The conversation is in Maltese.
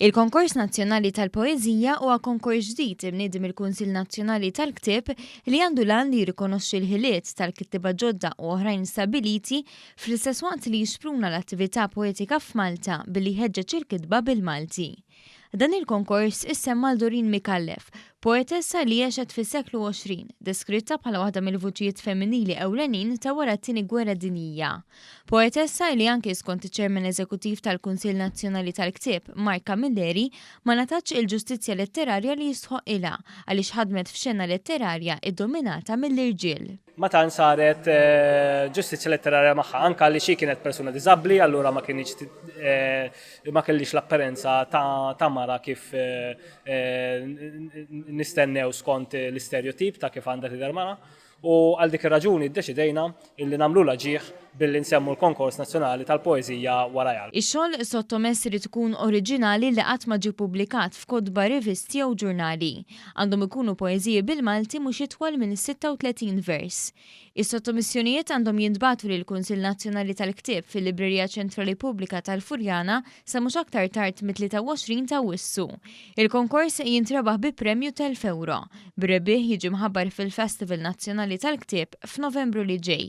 Il-Konkors Nazzjonali tal-Poeżija huwa konkors ġdid imniedi mill-Kunsill Nazzjonali tal-Ktieb li għandu l-għan li jirrikonoxxi l-ħiliet tal-kittieba ġodda u oħrajn stabbiliti fl-istess waqt li jixpruna l-attività poetika f'Malta billi jħeġġeġ il-kitba bil-Malti. Dan il-konkors issemm għal Doreen Micallef, poetessa li għexet fis-seklu 20, deskritta bħala waħda mill-vuċijiet femminili ewlenin ta' wara t-Tieni Gwerra Dinjija. Poetessa li anki skont iċ-Chairman Eżekuttiv tal-Kunsill Nazzjonali tal-Ktieb, Mark Camilleri, ma ngħatatx il-ġustizzja letterarja li jistħoqqilha għaliex ħadmet f'xena letterarja ddominata mill-irġiel. ma tantx saret ġustizzja letterarja magħha, anke għaliex hi kienet persuna diżabbli, allura ma kienx ma kellix l-apparenza ta', ta mara kif nistennew skont l-isterjotip ta' kif għandha tidher mara. U għal dik ir-raġuni ddeċidejna illi nagħmlulha ġieħ billi nsemmu l-Konkors Nazzjonali tal-Poeżija warajha. Ix-xogħol sottomess irid ikun oriġinali li qatt ma ġie ppubblikat f'kotba, rivisti jew ġurnali. Għandhom ikunu poeżiji bil-Malti mhux itwal minn 36 vers. Is-sottomissjonijiet għandhom jintbagħtu lill-Kunsill Nazzjonali tal-Ktieb fil-Librerija Ċentrali Pubblika tal-Furjana sa mhux aktar tard mit-23 ta' Awwissu. Il-konkors jintrebaħ bi premju t'elf ewro, bir-rebbieħ jiġi mħabbar fil-Festival Nazzjonali tal-Ktieb f'Novembru li ġej.